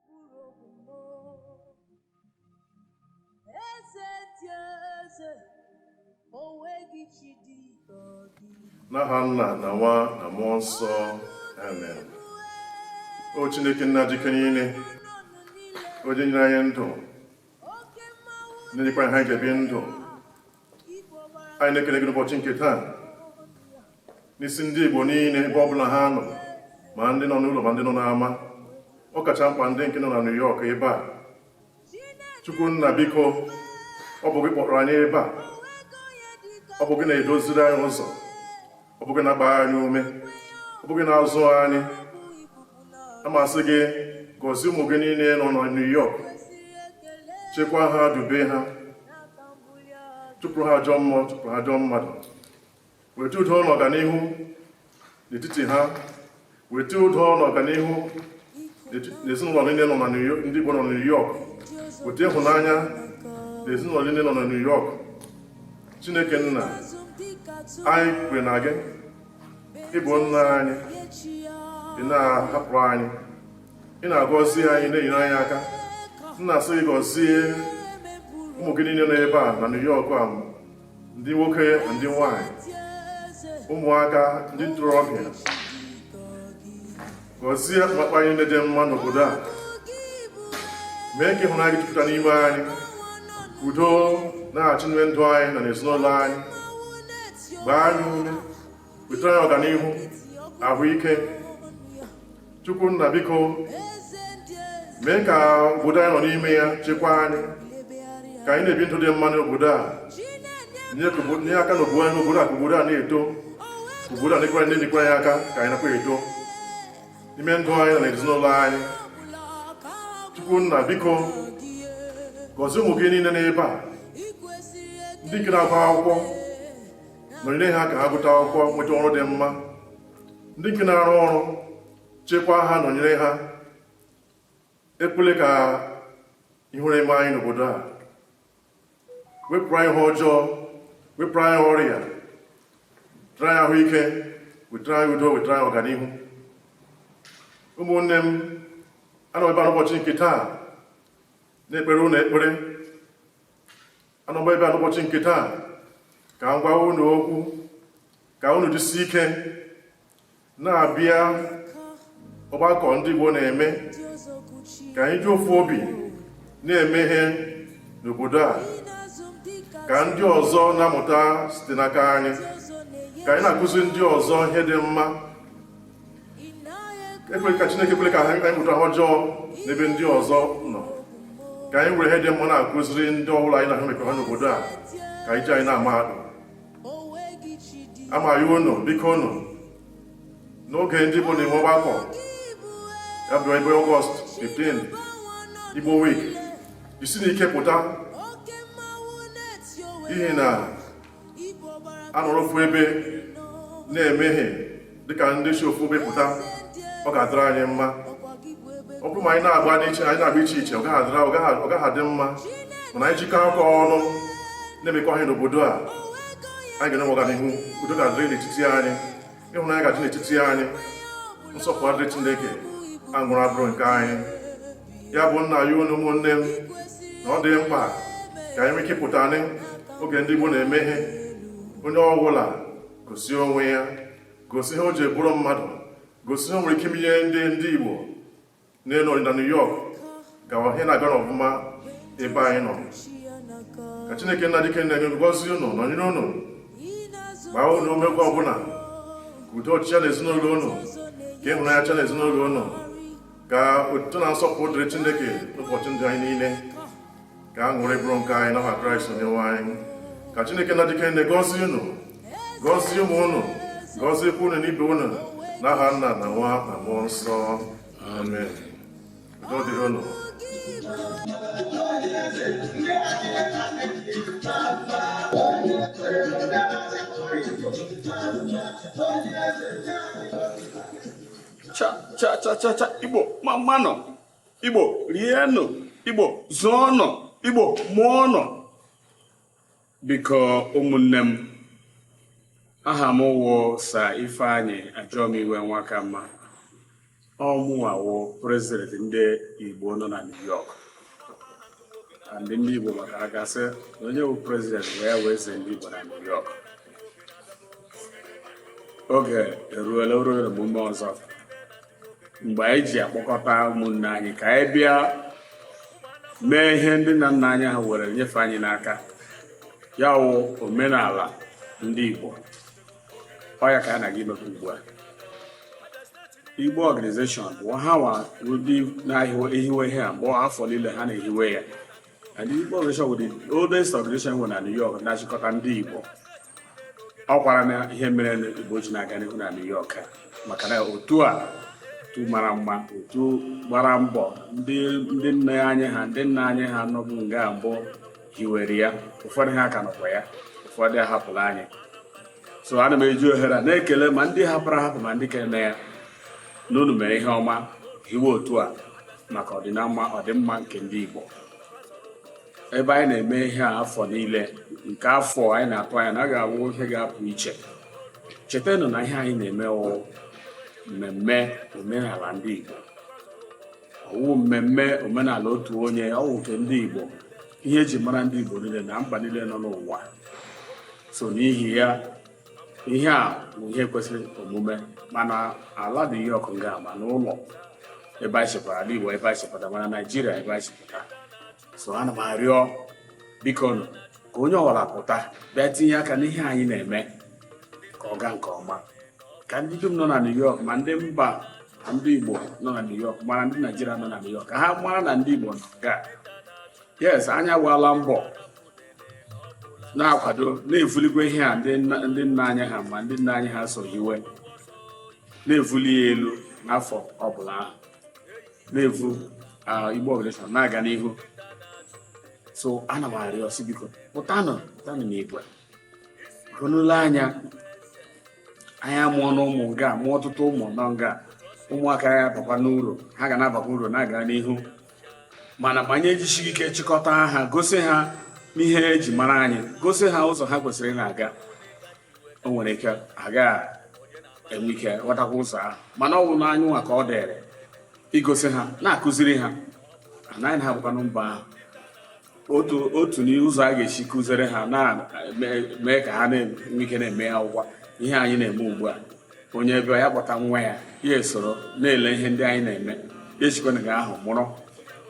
mkpụrụ obi m o. Eze ndị eze, o nweghị chi dị ka gị. n'aha nna na nwa na mmụọ nsọ amen o chineke nna ji ike niile onye nyere anyị ndụ Oke mmanwụ na-enyekwa anyị aka ibi ndụ anyị na-ekele gị n'ụbọchị nke taa n'isi ndị Igbo niile ebe ọ bụla ha nọ ma ndị nọ n'ụlọ ma ndị nọ n'ama ọ kacha mkpa ndị nke nọ na New York ebe a Chukwu nna biko ọ bụ gị kpọrọ anyị ebe a ọ bụ gị na-edoziri anyị ụzọ ọ ọ bụ gị na-agba anyị ume ọ bụ gị na-azụ anyị a m asị gị gọzie ụmụ gị niile nọ na New York chekwaa ha dube ha chụpụrụ ha ajọ mmụọ chụpụrụ ha ajọ mmadụ weta udo na ọganihu n'etiti ha weta udo na ọganihu n'ezinụlọ niile nọ na ndị Igbo nọ na New York weta ịhụnanya n'ezinụlọ niile nọ na New York Chineke nna anyị kwere na gị ị bụ nna anyị ị na-ahapụ anyị ị na-agọzi anyị na-enyere anyị aka nna asị gị gọzie ụmụ gị niile nọ ebe a na New York a ndị nwoke na ndị nwanyị ụmụaka ndị ntorobịa gọzie mkpakpa anyị na-adị mma n'obodo a mee ka ịhụnanya gị jupụta n'ime anyị udo na-achị n'ime ndụ anyị na n'ezinụlọ anyị gbaa anyị ume wetara anyị ọganihu ahụike chukwu nna biko mee ka obodo anyị nọ n'ime ya chekwaa anyị ka anyị na-ebi ndụ dị mma n'obodo a nye aka na obodo anyị obodo a ka obodo a na-eto obodo a na-ekwere na-enyekwara anyị aka ka anyị nakwa eto n'ime ndụ anyị na ezinụlọ anyị chukwu nna biko gọzie ụmụ gị niile n'ebe a ndị nke na-agụ akwụkwọ nọnyere ha ka ha gụta akwụkwọ nweta ọrụ dị mma ndị nke na-arụ ọrụ chekwaa ha nọnyere ha ekwele ka ihere eme anyị n'obodo a wepụrụ anyị ihe ọjọọ wepụrụ anyị ọrịa wetara anyị ahụike wetara anyị udo wetara anyị ọganihu ụmụnne m anọ ebe a n'ụbọchị nke taa na-ekpere unu ekpere anọkwa ebe a n'ụbọchị nke taa ka m gwa unu okwu ka unu jisi ike na-abịa ọgbakọ ndị Igbo na-eme ka anyị ji ofu obi na-eme ihe n'obodo a ka ndị ọzọ na-amụta site n'aka anyị ka anyị na-akụzi ndị ọzọ ihe dị mma ekwere ka chineke ekwela ka anyị mụta ihe ọjọọ n'ebe ndị ọzọ nọ ka anyị were ihe dị mma na-akụziri ndị ọbụla anyị na ha mekọrọ n'obodo a ka a na-eji anyị na-ama atụ ana m ayọ unu biko unu n'oge ndị igbo na-enwe ọgbakọ ya bụ ebe ọgọst 15 igbo week jisienụ ike pụta n'ihi na a nọrọ ofu ebe na-eme ihe dịka ndị si ofu ebe pụta ọ ga-adịrị anyị mma ọ bụrụ ma anyị na-agba n'iche anyị na-agba iche iche ọ gaghị adị mma mana anyị jikọ aka ọnụ na-emekọ ihe n'obodo a anyị ga-enwe ọganihu udo ga-adịrị n'etiti anyị ịhụnanya ga-adị n'etiti anyị nsọpụrụ adịrị chineke aṅụrị abụrụ nke anyị ya bụ m na-ayọ unu ụmụnne m na ọ dị mkpa ka anyị nwee ike pụta n'oge ndị Igbo na-eme ihe onye ọbụla gosi onwe ya gosi ihe o ji bụrụ mmadụ gosi ihe o nwere ike imenye ndị ndị Igbo na-anọ na New York ka ihe na-aga n'ọfụma ebe anyị nọ ka Chineke nna ji ike niile gọzie unu nọnyere unu gbaa unu ume oge ọbụla ka udo chịa n'ezinụlọ unu ka ịhụnanya chịa n'ezinụlọ unu ka otuto na nsọpụrụ dịrị Chineke n'ụbọchị ndụ anyị niile ka aṅụrị bụrụ nke anyị n'aha kraịst onyenwe anyị ka chineke nna ji ike niile gọzie unu gọzie ụmụ unu gọziekwa unu na ibe unu n'aha nna na nwa na mmụọ nsọ amen udo dịrị unu cha cha cha cha cha igbo mma mmanụ igbo rienụ igbo zụọnụ igbo mụọnụ biko ụmụnne m aha m wụ sir ifeanyị ajọmiwe nwakamma ọ mụwa wụ prezident ndị igbo nọ na new york and ndị igbo maka a ga-asị na onye wụ prezident wụkwa eze ndị igbo na new york oge eruola o ruola omume ọzọ mgbe anyị ji akpọkọta ụmụnne anyị ka anyị bịa mee ihe ndị nna nna anyị ha were nyefe anyị n'aka ya wụ omenala ndị Igbo ọ ya ka anyị na-aga imekwa ugbu a Igbo organization wụ ha wụ ndị na-ehiwe ihe a mgbe afọ niile ha na-ehiwe ya And the Igbo organization wụ the oldest organization e nwere na New York na-achịkọta ndị Igbo ọ kwaranụ ihe mere ndị Igbo ji na-aga n'ihu na New York maka na otu a otu mara mma otu gbara mbọ ndị nne anyị ha ndị nna anyị ha nọbụ nga mbụ hiwere ya ụfọdụ ha ka nọkwa ya ụfọdụ ahapụla anyị so ana m eji ohere a na-ekele ma ndị hapụrụ ahapụ ma ndị ka eme ya na unu mere ihe ọma hiwe otu a maka ọdịnama ọdịmma nke ndị Igbo ebe anyị na-eme ihe a afọ niile nke afọ a anyị na-atụ anya na ọ ga-awụ ihe ga-apụ iche chetanụ na ihe anyị na-eme wụ mmemme omenala ndị Igbo ọ wụghị mmemme omenala otu onye ọ wụ nke ndị Igbo ihe eji mara ndị Igbo niile na mba niile nọ n'ụwa so n'ihi ya ihe a bụ ihe kwesịrị omume ma n'ala New York nga ma n'ụlọ ebe anyị shi pụta ala Igbo ebe anyị shi pụta ma na Naijiria ebe anyị shi pụta so ana m arịọ bikonụ ka onye ọwụla pụta bịa tinye aka n'ihe anyị na-eme ka ọ gaa nke ọma ka ndị dum nọ na New York ma ndị mba na ndị Igbo nọ na New York ma ndị Naijiria nọ na New York ka ha mara na ndị Igbo nọ nga yes anyị agbaala mbọ na-akwado na-evulikwa ihe a ndị nna anyị ha ma ndị nna anyị ha so hiwe na-evuli ya elu n'afọ ọbụla ahụ na-evu Igbo organization na-aga n'ihu so ana m arịọ sị biko pụtanụ pụtanụ n'igwe unu lee anya anyị amụọna ụmụ nga mụọ ọtụtụ ụmụ nọ nga ụmụaka ya abakwanụ uru ha ga na-abakwa uru na-aga n'ihu mana ma anyị ejisighị ike chịkọta ha gosi ha n'ihe eji mara anyị gosi ha ụzọ ha kwesịrị na-aga o nwere ike agaghị enwe ike ghọtakwa ụzọ ahụ mana ọ bụ n'anyị nwa ka ọ dịrị igosi ha na-akụziri ha anyị na-agbakwanụ mbọ ahụ otu otu n'ụzọ a ga-esi kụziri ha na-mee ka ha na-enwe ike na-eme ya ọ wụkwa ihe anyị na-eme ugbu a onye bịa ya akpọta nwa ya ya esoro na-ele ihe ndị anyị na-eme ya esikwanụ nga ahụ mụrụ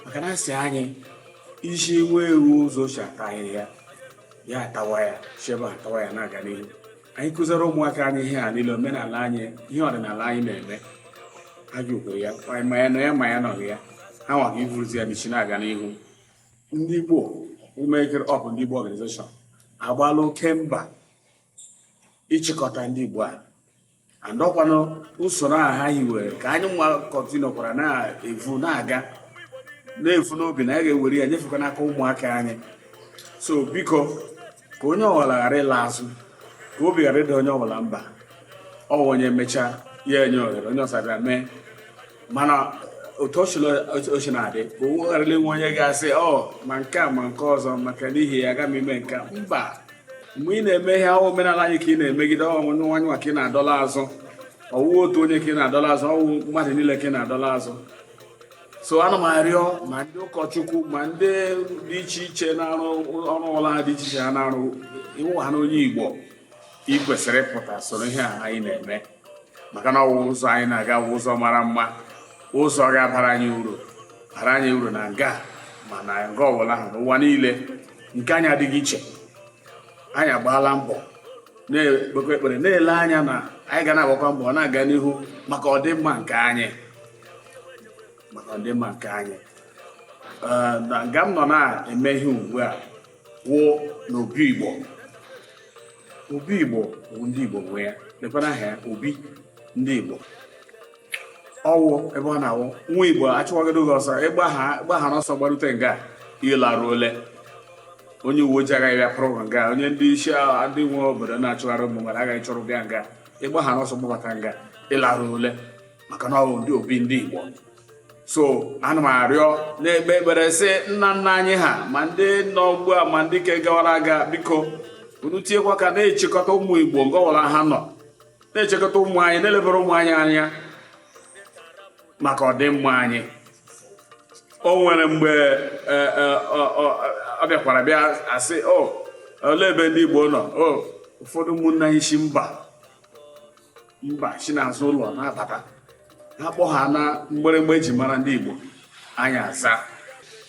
maka na a sị anyị zi nwa ewu ụzọ e si ata ahịhịa ya atawa ya shi ebe ahụ tawa ya na-aga n'ihu anyị kụziri ụmụaka anyị ihe a niile omenala anyị ihe ọdịnala anyị na-eme ha ji okwere ya ma anyị nọ ya ma anyị anọghị ya ha nwa ga ivuruzi ya n'isi na-aga n'ihu ndị Igbo ụmụekere ọbụ ndị Igbo organization agbaala oke mbọ ịchịkọta ndị Igbo a and ọ kwanụ usoro a ha hiwere ka anyị nwa continuekwara na-evu na-aga na-evu n'obi na anyị ga-ewere ya nyefekwa n'aka ụmụaka anyị so biko ka onye ọbụla ghara ịla azụ ka obi ghara ịda onye ọbụla mba ọ onye mechaa ya enye ohere onye ọzọ bịa mee mana otu o shi na-adị ka ọ ghara inwe onye ga-asị ọ ma nke a ma nke ọzọ maka n'ihi ya agaghị m ime nke mba mgbe ị na-eme ihe ahụ omenala anyị ka ị na-emegide ọwụ anyị nwa ka ị na-adọla azụ ọwụ otu onye ka ị na-adọla azụ ọwụ mmadụ niile ka ị na-adọla azụ so ana m arịọ ma ndị ụkọchukwu ma ndị dị iche iche na-arụ ọrụ ọwụla ahụ dị iche iche ha na-arụ ị wụhana onye Igbo ị kwesịrị ịpụta soro ihe a anyị na-eme maka na ọwụ ụzọ anyị na-aga wụ ụzọ mara mma ụzọ ga-abara anyị uru bara anyị uru na nga ma na nga ọbụla ahụ n'ụwa niile nke anyị adịghị iche anyị agbaala mbọ na-ekpekwa ekpere na-ele anya na anyị ga na-agbakwa mbọ na-aga n'ihu maka ọdịmma nke anyị maka ọdịmma nke anyị na nga m nọ na-eme ihe ugbu a wụ na obi igbo obi igbo bụ ndị igbo nwe ya lekwana aha ya obi ndị igbo ọwụ ebe ọ na-awụ nwa igbo achụwagodo gị ọsọ ị gbahana ọsọ gbarute nga ị laruole onye uwe ojii agaghị bịa pụrụ nga onye ndị isi ndị nwe obodo na-achụgharị ụmụ mmadụ agaghị achụrụ bịa nga ị gbahana ọsọ gbabata nga ị laruole maka na ọwụ ndị obi ndị igbo so ana m arịọ na-ekpe ekpere sị nna nna anyị ha ma ndị nọ ugbu a ma ndị ke gawara aga biko unu tinyekwa aka na-echekọta ụmụ igbo nga ọwụla ha nọ na-echekọta ụmụ anyị na-elebere ụmụ anyị anya maka ọdịmma anyị o nwere mgbe e, e, ọ bịakwara bịa asị o olee ebe ndị igbo nọ o ụfọdụ ụmụnna anyị si mba mba si n'azụ ụlọ na-abata ha kpọ ha na mgbịrịgba eji mara ndị Igbo anyị aza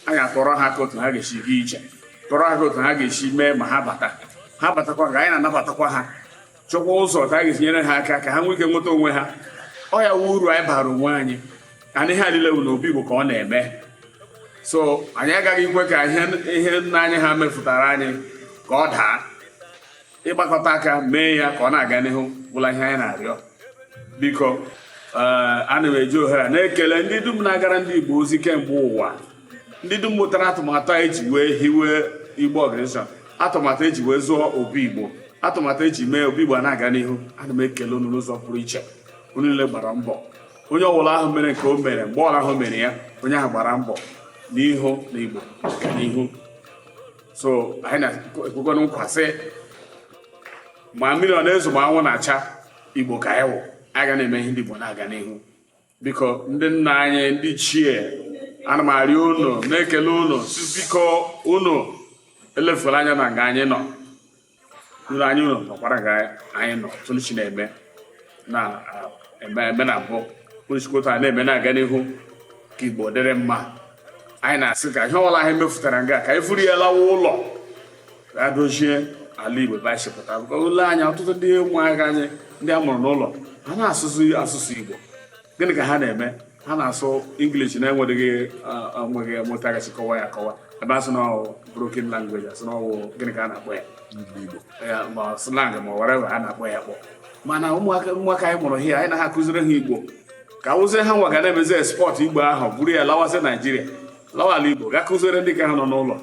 anyị akọrọ ha ka otu ha ga-esi gaa ije kọrọ ha ka otu ha ga-esi mee ma ha bata ha batakwa ka anyị na-anabatakwa ha chọkwa ụzọ ka a ga-esi nyere ha aka ka ha nwee ike nweta onwe ha ọ ya wụ uru anyị bara onwe anyị and ihe a lile wụ na obi Igbo ka ọ na-eme so anyị agaghị ikwe ka ihe nna anyị ha mefụtara anyị ka ọ daa ịgbakọta aka mee ya ka ọ na-aga n'ihu bụla ihe anyị na-arịọ biko eh, ana m eji ohere a na-ekele ndị dum na-agara ndị Igbo ozi kemgbe ụwa ndị dum mụtara atụmatụ eji wee hiwe Igbo Organization atụmatụ eji wee zụọ obi Igbo atụmatụ eji mee obi Igbo na-aga n'ihu ana m ekele unu n'ụzọ pụrụ iche unu niile gbara mbọ onye ọbụla ahụ mere nke o mere mgbe ọwụla ahụ mere ya onye ahụ gbara mbọ n'ịhụ na Igbo ga n'ihu so anyị na-ekwekwa unu nkwa sị ma mmiri ọ na-ezo ma anwụ na-acha igbo ka anyị wụ anyị ga na-eme ihe ndị igbo na-aga n'ihu biko ndị nna anyị ndị chie ana m arịọ unu na-ekele unu sị biko unu elefukwala anya na nga anyị nọ nụrụ anyị ụlọ nọkwara nga anyị nọ tụlụchi na-eme na-eme na mbụ kpụrụchikọta a na-eme na-aga n'ihu ka igbo dịrị mma anyị na-asị ka ihe ọbụla anyị mefụtara nga ka anyị vuru ya lawa ụlọ ga dozie ala igbo ebe anyị si pụta ụlọ anyị ọtụtụ ndị ụmụaka anyị ndị a mụrụ n'ụlọ ha anaghị asụ asụsụ igbo gịnị ka ha na-eme ha na-asụ English na-enweghị enweghị otu a ga-esi kọwa ya akọwa ebe a sị na ọwụ broken language a sị na ọwụ gịnị ka a na-akpọ ya ma slang ma whatever a na-akpọ ya akpọ mana ụmụaka ụmụaka anyị mụrụ here anyị na-akụziri ha Igbo ka ọ wụzie ha nwa ga na-emezi export Igbo ahụ buru ya lawazie Naijiria lawa ala Igbo ga kụziere ndị ka ha nọ n'ụlọ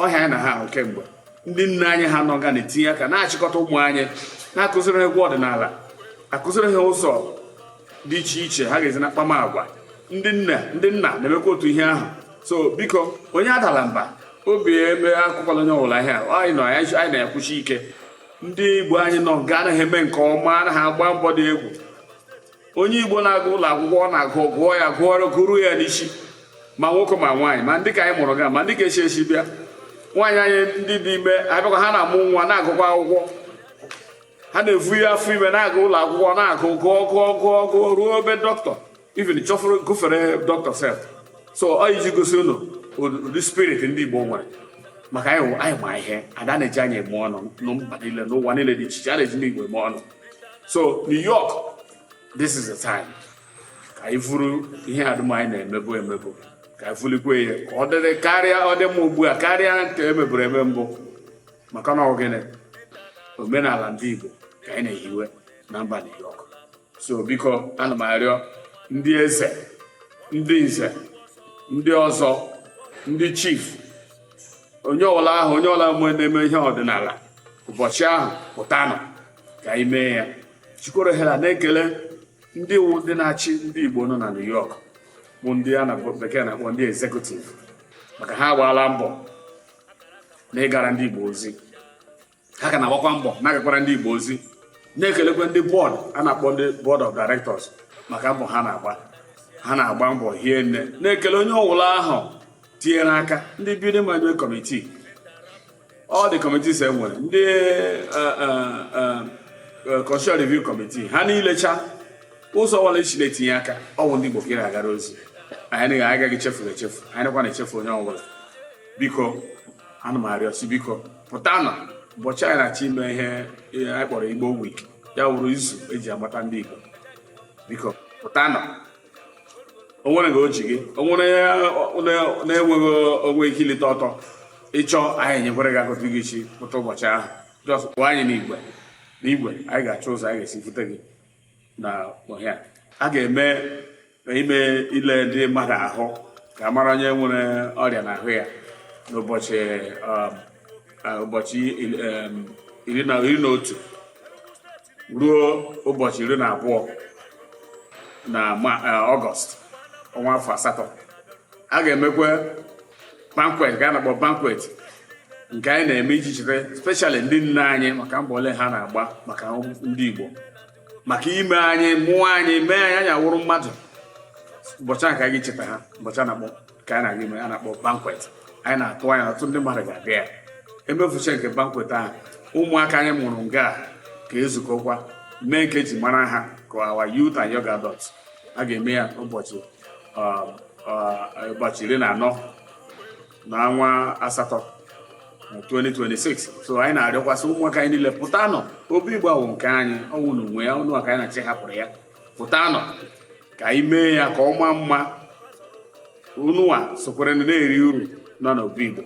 ọ ihe anyị na-ahụ kemgbe ndị nne anyị ha nọ nga na-etinye aka na-achịkọta ụmụ anyị na-akụziri ha egwu ọdịnala akụziri ha ụzọ dị iche iche ha ga-esi na-akpama agwa ndị nne ndị nna na-emekwa otu ihe ahụ so biko onye adala mba obi eme akụkwala onye ọbụla ihe anyị nọ anyị na-ekwusi ike ndị igbo anyị nọ nga na-eme nke ọma na-agba mbọ dị egwu onye igbo na-aga ụlọ akwụkwọ ọ na-agụ gụọ ya gụọrọ gụruo ya n'isi ma nwoke ma nwaanyị ma ndị ka anyị mụrụ nga ma ndị ka esi esi bịa nwaanyị anyị ndị dị ime abịakwa ha na-amụ nwa na-agụkwa akwụkwọ ha na-evu ya afọ ime na-aga ụlọ akwụkwọ na-agụ gụọ gụọ gụọ gụọ ruo ebe dọkịta even chọfụrụ gụfere dọkịta sef so ọ iji gosi unu ụdị spirit ndị igbo nwere maka anyị ma ihe a na-eji anyị eme ọnụ na mba niile n'ụwa niile dị iche iche a na-eji ndị igbo eme ọnụ so New York this is the time ka anyị vuru ihe dum anyị na-emebu emebu ka anyị vulikwe ya ka ọ dịrị karịa ọ dị mma ugbu a karịa nke e meburu eme mbụ maka na ọ gịnị omenala ndị Igbo ka anyị na-ehiwe na mba New York so biko ana m arịọ ndị eze ndị nze ndị ọzọ ndị chief onye ọwụla ahụ onye ọwụla mgbe na-eme ihe ọdịnala ụbọchị ahụ pụtanụ ka anyị mee ya jikwara ohere a na-ekele ndị wụ ndị na-achị ndị Igbo nọ na New York bụ ndị a na bekee na-akpọ ndị executive maka ha agbaala mbọ na ịgara ndị Igbo ozi ha ka na-agbakwa mbọ na-agakwara ndị Igbo ozi na-ekelekwa ndị board a na-akpọ ndị board of directors maka mbọ ha na-agba ha na-agba mbọ hie nne na-ekele onye ọwụla ahụ tinyere aka ndị building management committee all the committees e nwere ndị eh, eh, eh, constitutional review committee ha niile cha ụzọ ọbụla i si na-etinye aka ọ bụ ndị Igbo ka ị na-agara ozi anyị agaghị echefu unu echefu anyị anaghịkwa echefu onye ọbụla biko ana m arịọ sị biko pụtanụ ụbọchị anyị na-achọ ime ihe anyị kpọrọ igbo week ya wụrụ izu eji agbata ndị igbo biko pụtanụ o nwere nga o ji gị o nwere na-enweghị onwe ike ilite ọtọ ị chọ anyị enyekwere gị aka otu ị ga-esi pụta ụbọchị ahụ just kpọọ anyị n'igwe n'igwe anyị ga-achọ ụzọ anyị ga-esi vute gị n'ihe a a ga-eme ime ile ndị mmadụ ahụ ka a mara onye nwere ọrịa n'ahụ ya n'ụbọchị um, uh, ụbọchị um, iri na iri na otu ruo ụbọchị iri na abụọ na uh, ọgọst ọnwa afọ asatọ a ga-emekwa banquet ka a na-akpọ banquet nke anyị na-eme iji cheta specially ndị nne anyị maka mbọ ole ha na-agba maka ndị Igbo maka ime anyị mụọ anyị mee anyị awụrụ mmadụ ụbọchị ahụ ka anyị cheta ha ụbọchị a na-akpọ ka anyị na-aga ime a na-akpọ banquet anyị na-atụ anya ọtụtụ ndị mmadụ ga-abịa ya emefucha nke banquet ahụ ụmụaka anyị mụrụ nga ga-ezukọkwa mee nke eji mara ha ka our youth and young adults a ga-eme ya ụbọchị ụbọchị iri na anọ na ọnwa asatọ 2026 so anyị na-arịọkwa sị ụmụaka anyị niile pụtanụ obi igbo awụ nke anyị ọ wụ unu nwe ya unụwa ka anyị na-achọ ịhapụrụ ya pụtanụ ka anyị mee ya ka ọ maa mma unụwa sokwere na-eri uru nọ n'obi igbo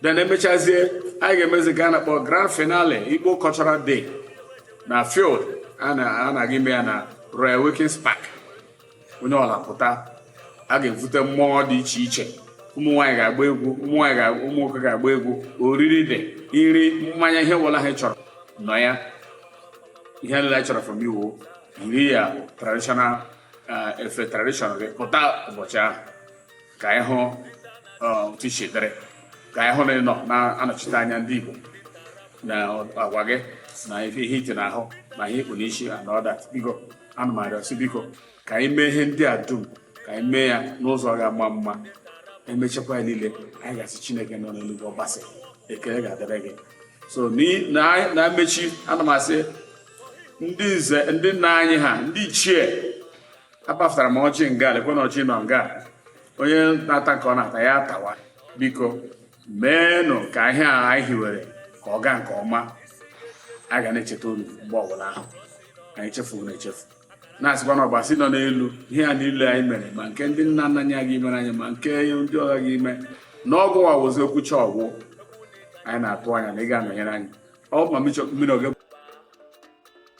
then emechazie anyị ga-emezi nke a na-akpọ grand finale igbo cultural day na field a na-aga ime ya na Roy Wilkins Park onye ọbụla pụta a ga-evute mmụọ dị iche iche ụmụ nwaanyị ga-agba egwu ụmụ nwaanyị ga ụmụ nwoke ga-agba egwu oriri dị iri mmanya ihe ọbụla ha chọrọ nọ ya ihe nile a chọrọ from you yiri your traditional eh, efe traditional gị pụta ụbọchị ahụ ka anyị hụ otu i si dịrị ka anyị hụ na ị nọ na-anọchite anya ndị Igbo n'agwa gị na ife ihe iti n'ahụ na ihe ikpu n'isi and all that biko ana m arịọ sị biko ka anyị mee ihe ndị a dum ka anyị mee ya n'ụzọ ga-ama mma emechakwa ya niile anyị ga-asị Chineke nọ n'eluigwe Ọbasị ekele ga-adịrị gị so na mmechi ana m asị ndị nze ndị nna anyị ha ndị ichie apafutara m ọjị nga lekwenụ ọjị nọ nga onye na-ata nke ọ na-ata ya atawa biko meenụ ka ihe a anyị hiwere ka ọ gaa nke ọma a ga na-echeta unu mgbe ọbụla ahụ anyị echefu unu echefu na-asịkwa na ọbasi nọ n'elu ihe a niile anyị mere ma nke ndị nna nna anyị aga imere anyị ma nke ndị ọha ga ime na ọ gịwa wụzi okwucha ọgwụ anyị na-atụ anya na ị ga-anọnyere anyị ọ ma mmiri oge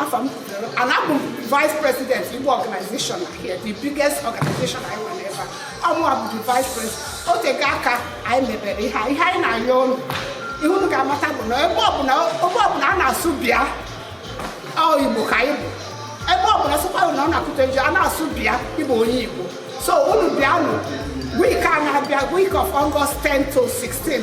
afa m kwutere and abụ m vice president igbo organization here the biggest organization anyị nwere ebe a ọ mụwa bụ the vice president o tego aka anyị mebere ihe a. ihe anyị na-ayọ unu ihe unu ga-amata bụ na ebe ọbụla ebe ọbụla a na-asụ bịa ọ igbo ka anyị bụ ebe ọbụla sịkwa unu na ọ na-akụta eji a na-asụ bịa ị bụ onye igbo so unu bịanụ week a na-abịa week of August 10 to 16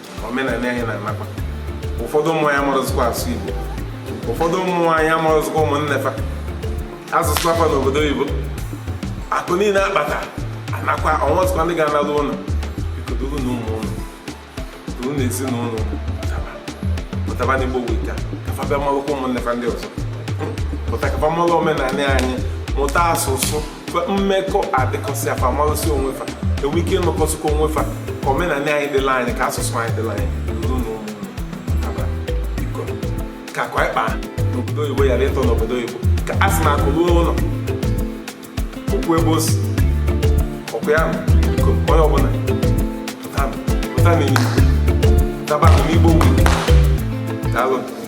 omenala anyị na-anakwa ụfọdụ ụmụ anyị amarọzikwa asụ Igbo ụfọdụ ụmụ anyị amarọzikwa ụmụnne fa azụsịa fa n'obodo oyibo akụ niile akpata anakwa o nwezikwa ndị ga-analụ ụlọ biko durunụ ụmụ unu durunụ ezinụlọ pụtaba n'igbo week a ka fa bịa malụkwa ụmụnne fa ndị ọzọ pụta ka fa malụ omenala anyị mụta asụsụ mmekọ adị cos fa malụsịa onwe fa enwe ike ịnụkọsịkwa onwe fa ka omenala anyị dịlị anyị ka asụsụ anyị dịlị anyị ka akụ anyị kpaa n'obodo oyibo ghara ịtọ n'obodo oyibo ka a sị na akụ ruo ụlọ o kwuo ebe o si ọ kwa ya biko onye ọbụla pụta n'igbo pụta n'igbo daalụ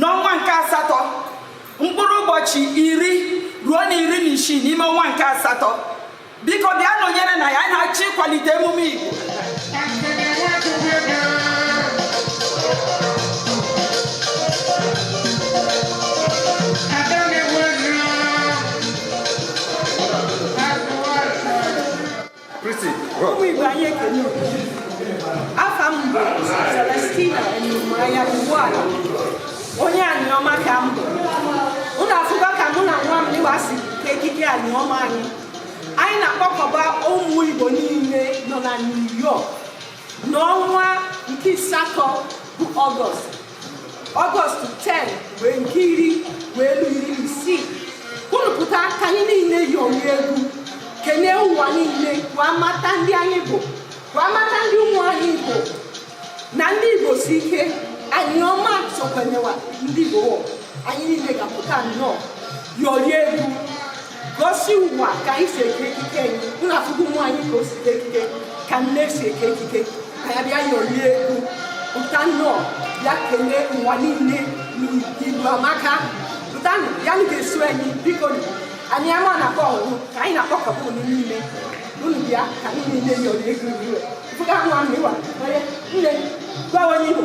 n'ọnwa nke asatọ mkpụrụ ụbọchị iri ruo na iri na isii n'ime ọnwa nke asatọ biko bịa nọnyere na anyị na-achọ ịkwalite emume Igbo ụmụ Igbo anyị ekene afa m bụ Celestina Enumanya Ugbuala onye Aniọma ka m bụ unu afụgo ka mụ na nwa m dịwa si eke ekike Aniọma anyị anyị na-akpọkọba ụmụ Igbo niile nọ na New York n'ọnwa nke asatọ bụ Ọgọst ọgọst 10 wee nke iri wee luo iri isii unu pụta ka anyị niile yorie egwu kenee ụwa niile ka wa mata ndị anyị bụ ka wa mata ndị ụmụ anyị bụ na ndị igbo si ike Aniọma sokwenyewa ndị igbo anyị niile ga-apụta nnọọ yorie egwu gosi ụwa ka anyị si eke ekike anyị unu afụgo ụmụ anyị ka o si eke ekike ka nne si eke ekike ka anyị bịa yorie egwu pụtanụ bịa kenee ụwa niile na igbo amaka pụtanụ na unu ga-eso anyị biko nụ. Aniọma na-akpọ oku ka anyị na-akpọkọba unu niile unu bịa ka anyị niile yorie egwu ugbu a fụga nwa m ịwa onye nne gwa onye igbo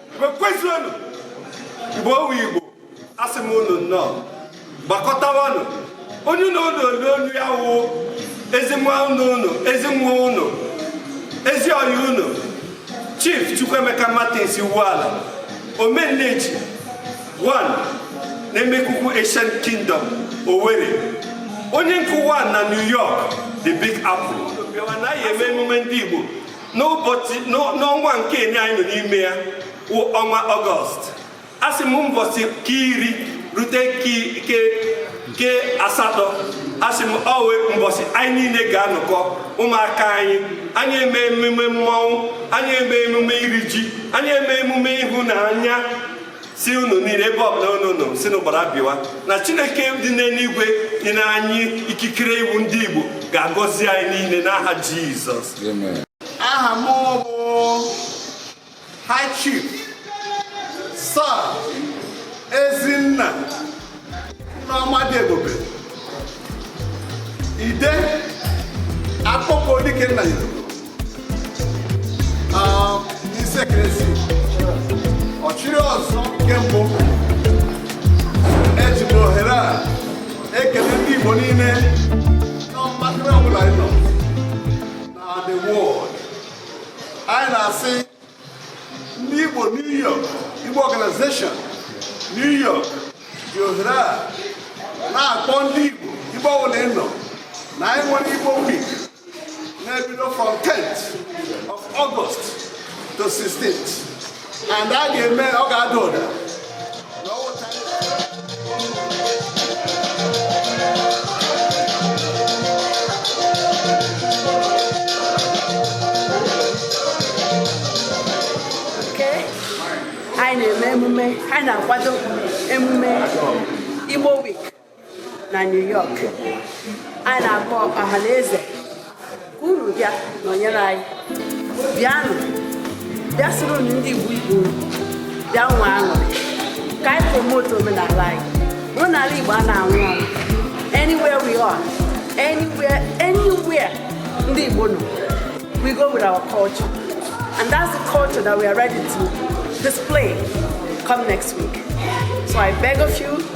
igbo kwezuonu igbo ọ wụ igbo asị m unu nnọọ gbakọtawanụ onye unu na-anụ olu ya wụ ezi nwanne unu ezi nwa unu ezi ọyị unu chief chukwuemeka martins iwuala omenneji 1 na emekuku ancient kingdom owerri onye nke 1 na new york the big apple bịawa na anyị eme emume ndị igbo n'ọnwa nke enye anyị nọ n'ime ya wụ ọnwa ọgọst asị m mbọsị ke iri rute ke asatọ asị m ọ wụ mbọsị anyị niile ga-anọkọ ụmụaka anyị anyị eme emume mmọnwụ anyị eme emume iri ji anyị eme emume ịhụnanya sị unu niile ebe ọbụla unu nọ sị unu gbara bịawa na chineke dị n'eluigwe nyere anyị ikikere ịwụ ndị igbo ga-agọzi anyị niile n'aha jizọs amen aha m bụ high chief sir ezinna nna ọma dị ebube ide Akokwa Dikenafai na Isiekenesi Ọchịrịọzụọ nke mbụ eji m ohere a ekele ndị Igbo niile n'ọgbakọrọ ọbụla ị nọ na the world anyị na-asị ndị Igbo New York Igbo Organization New York ji ohere a na-akpọ ndị Igbo ebe ọbụla ị nọ na anyị nwere Igbo week na-ebido from 10th of August to 16th and a ga-eme ọ ga-ada ụda anyị na-eme emume anyị na-akwado emume Igbo Week na New York anyị na-akpọ ọha na eze ka unu bịa nọnyere anyị bịanụ bịa soronụ ndị Igbo Igbo bịa nwee aṅụrị ka anyị promote omenala anyị omenala Igbo a na-anwụ anwụ anywhere we are anywhere anywhere ndị Igbo nọ we go with our culture and that's the culture that we are ready to display come next week so I beg of you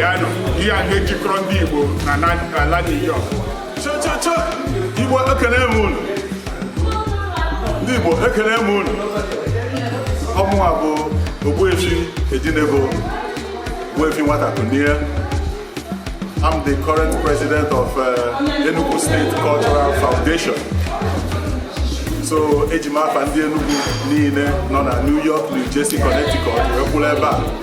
ya nọ ihe a na-ejikọrọ ndị Igbo na ala New York cha cha cha Igbo ekene m unu ndị Igbo ekene m unu ọ mụwa bụ Ogbuefi Ejinego Ogbuefi Nwatakunie I'm the current president of uh, Enugu State Cultural Foundation. So eji m afa ndị Enugu niile nọ na New York, New Jersey, Connecticut wee kwụrụ ebe a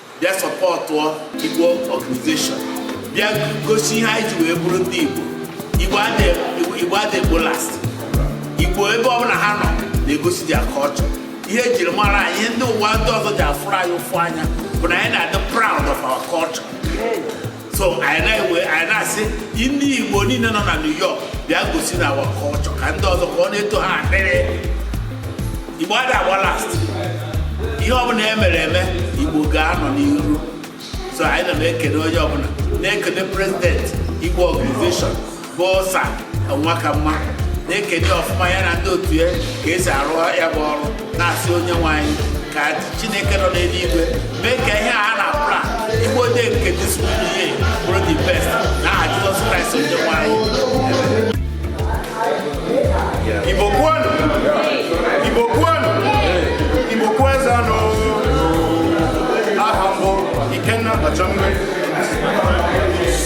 bịa sọpọtụọ Igbo organization bịa gosi ihe anyị ji wee bụrụ ndị Igbo Igbo adị agba last Igbo ebe ọbụla ha nọ na-egosi their culture ihe ejiri mara anyị ihe ndị ụwa ndị ọzọ ji afụrụ anyị ụfụ anya bụ na anyị na-adị proud of our culture so anyị na-ewe anyị na-asị ndị igbo niile nọ na new york bịa gosinụ our culture ka ndị ọzọ ka ọ na-eto ha akpịrị igbo ada agba last ihe ọbụla e mere eme igbo ga-anọ n'iru so anyị na na-ekele onye ọbụla na-ekele president igbo organization bụ sir nwakamma na-ekene ọfụma ya na ndị otu ya ka e si arụ ya bụ ọrụ na-asị onye nwe anyị ka chineke nọ n'eluigwe mee ka ihe a na-aplan igbo day nke this year bụrụ the best n'aha jizọs kraịst onye nwe anyị igbo kwenu igbo kwenu igbo kwezuonu aha m bụ ikenna ọchọ mmiri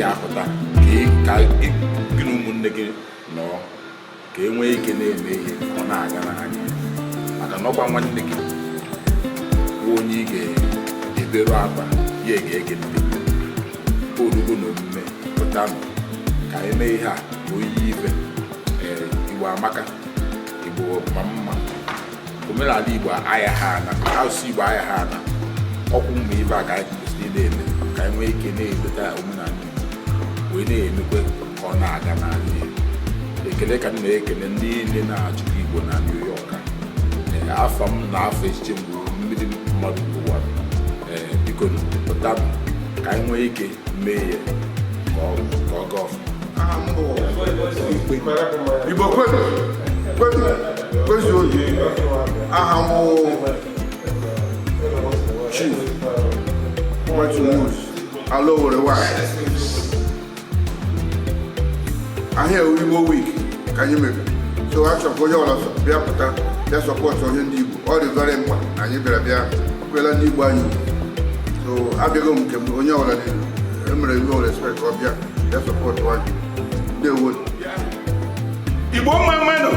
ya a pụta ka gị na ụmụnne gị nọọ ka e nwee ike na-eme ihe ọ na-agara anyị maka na ọkwa nwanne gị bụ onye ị ga-eberu akwa ya ga-ege ntị o rugo n'omume pụtanụ ka anyị mee ihe a oyiyi ibe ee igbo amaka igbo ma mma omenala Igbo ayaha ana asụsụ Igbo ayaha ana ọkwa mgbe ibe a ka anyị kwesịrị ị na-eme ka anyị nwee ike na-echeta omenala Igbo wee na-emekwe ka ọ na-aga n'ala Igbo ekele ka m na-ekele ndị niile na-achịkwa Igbo na New York afa m na afọ echiche mgbe mmiri mmadụ ụwa biko pụta ka anyị nwee ike mee ya ka ọ ka ọ gaa ọfụma aha m bụ igbo kwezu kwezu kwezu oyi aha m bụ chief wetumus ala owere nwanyị ihe a wụ igbo week ka anyị mere so a chọkwa onye ọwụla bịa pụta bịa sọpọtụọ ihe ndị igbo ọ dị very mkpa na anyị bịara bịa ekwela ndị Igbo anyị so abịago m nke onye ọbụla dị emere Igbo respect ka ọ bịa ya sọpọtụ anyị ndeewo Igbo mma mmanụ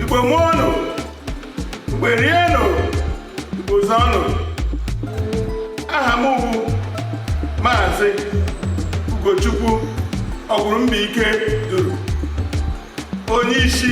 Igbo mụọnụ Igbo rienụ Igbo zụọnụ aha m bụ maazị Ugochukwu Ọgwụrụmbaike Duru onye isi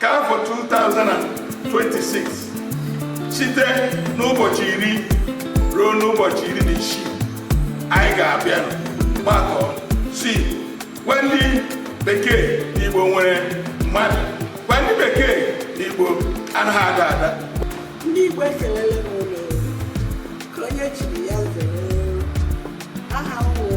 ka afọ 2026 site n'ụbọchị iri ruo n'ụbọchị iri na isii anyị ga-abịa gbakọ si gwa ndị bekee na igbo nwere mmadụ gwa ndị bekee na igbo anaghị ada ada ndị igbo ekelele m unu nke onye chiri ya zere aha m wụ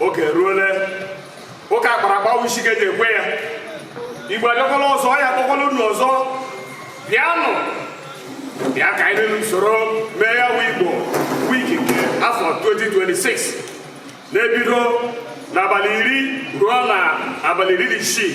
oge ruole ụka a kpara akpa wụ isi ka e ji ekwe ya igbo adịkwala ọzọ ya akpọkwala unu ọzọ bịanụ bịa ka anyị niile soro mee ya bụ igbo week nke afọ 2026 na-ebido n'abalị iri ruo na abalị iri na isii